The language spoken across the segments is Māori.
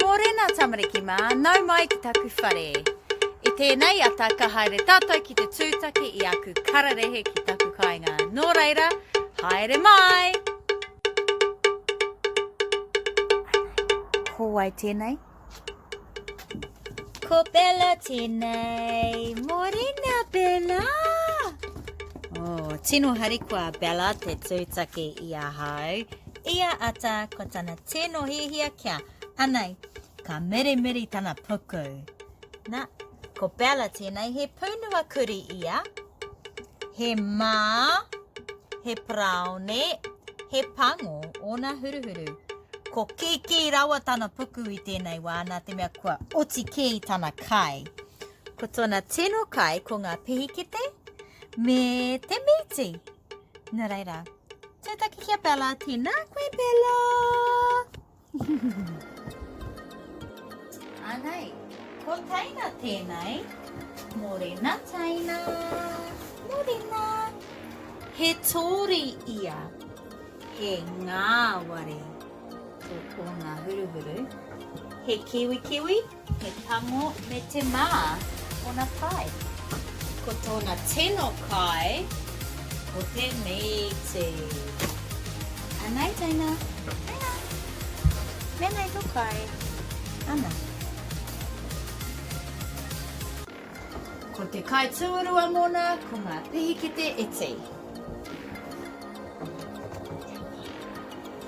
Mōrena tamariki mā, nau mai ki taku whare. I tēnei ata ka haere tātou ki te tūtaki i aku kararehe ki taku kāinga. Nō reira, haere mai! Ko wai tēnei? Ko Bella tēnei. Mōrena, Bella! Oh, tino harikoa, Bella, te tūtaki i ahau. I a Ata ko tana tino hiahia kia, anei, ka mirimiri tana puku. Na, ko Bella tēnei he pūnua kurī ia, he mā, he paraone, he pango ōna huruhuru. Ko kīkī rawa tana puku i tēnei wā nā te mea kua oti kē i tana kai. Ko tōna tino kai ko ngā pihikete me te mīti. Nā reira, tētaki ki a Bella, tēnā koe Bella! Anei, ko Taina tēnei, Morena Taina, Morena. He tōri ia, he ngāwari tō tōna huruhuru, he kiwi kiwi, He pango me te mā tōna kai. Ko tōna tino kai ko te mīti. Anei teina. Teina. Menei to kai. Ana. Ko te kai tūrua mōna ko ngā pihikete iti.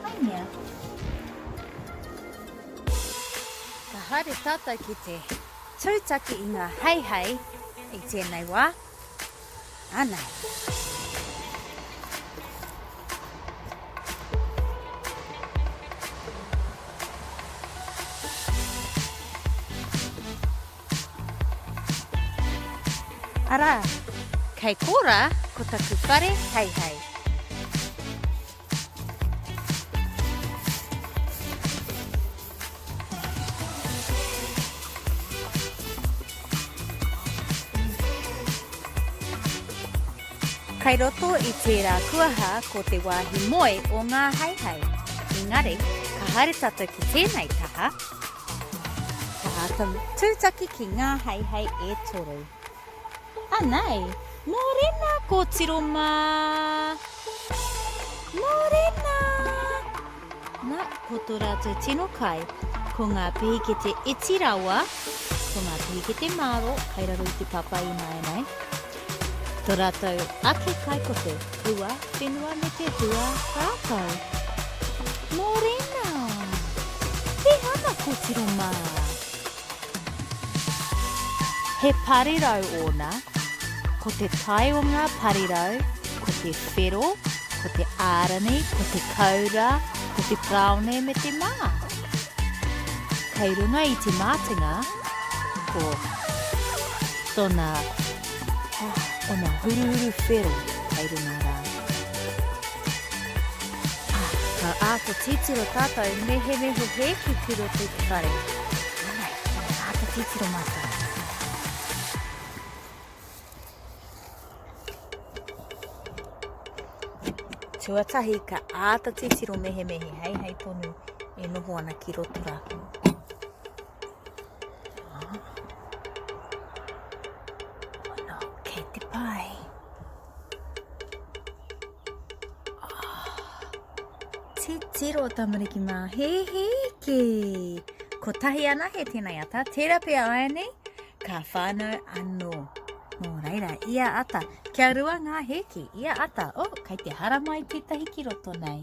Hai mea. Ka haere tātou ki te tūtaki i ngā heihei i tēnei wā, anei. Arā, kei kō rā ko taku whare heihei. Kei roto i tērā kuaha ko te wāhi moe o ngā haehae. Engari, ka haere tātou ki tēnei taha, ka āta tūtaki ki ngā haehae e toru. Anei! Morena kotiro ma! Morena! Na, ko to ratou tino kai, ko nga pehikete iti rawa, ko nga pehikete maro kai raro i te papa inaina e. To ratou ake kai ko te hua whenua me te hua rakau. Morena! He ana kotiro ma! He parirau ōna, ko te tae o ngā parirau, ko te whero, ko te ārani, ko te kaura, ko te praone me te mā. Kei runga i te mātenga, ko tona, oh, ona huruhuru whero kei runga rā. Ka āta titiro tātou nehenehe hē ki te roto i te whare. Anei, ka āta titiro mātou. Tuatahi, ka āta titiro mehemehe hei hei tonu e noho ana ki roto rātou. Ono, kei te pai. Titiro tamariki mā, he he ki. Ko tahi ana he tēnei ata, tērā pia aia nei, ka whānau anō. Nō reira, ia ata, kia rua ngā hēki, ia ata, oh, kai te hara mai tētahi ki roto nei.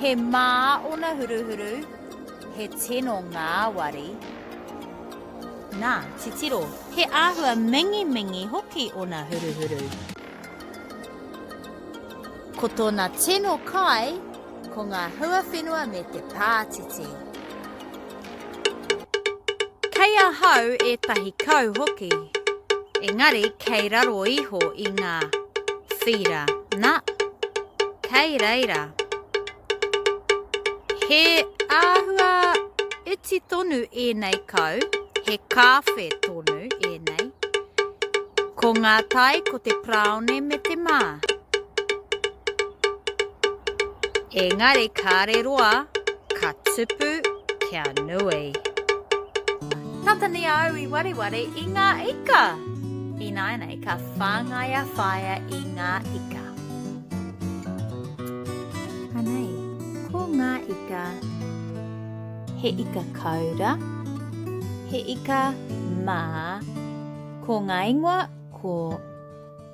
He mā ōna huruhuru, he tino ngāwari. Nā, titiro, he āhua mingimingi hoki ōna huruhuru. Ko tōna tino kai, ko ngā huawhenua me te pātiti. Kei ahau ētahi kau hoki, engari kei raro iho i ngā whīra nā, kei reira. He āhua iti tonu ēnei kau, he kāwhe tonu ēnei. Ko ngā tai ko te praone me te mā. Engari kāre roa, ka tupu kia nui. Tata nei a au i wareware i ngā ika. Ināinei ka whāngai a whaea i ngā ika. Anei, ko ngā ika, he ika kaura, he ika mā, ko ngā ingoa ko.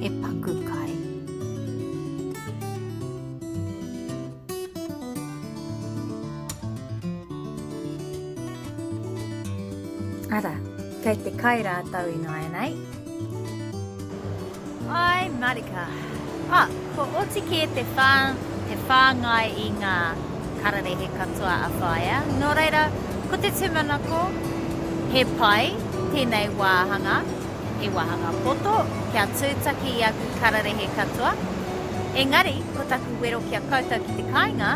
He paku kai. Ara, kei te kai rātou ināianei. Hi, Marika. Ah, kua oti kē te whā, te whāngai i ngā kararehe katoa a Whaea. Nō reira, ko te tūmanako, he pai tēnei wāhanga, he wāhanga poto, kia tūtaki i aku kararehe katoa. Engari, ko taku wero ki a koutou ki te kāinga,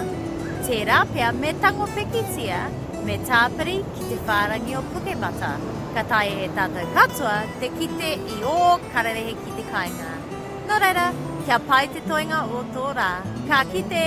tērā pea me tango pikitia, me tāpiri ki te whārangi o Pukemata. Ka taea e tātou katoa te kite I ō kararehe ki te kāinga. Nō reira, kia pai te toenga o tō rā. Ka kite!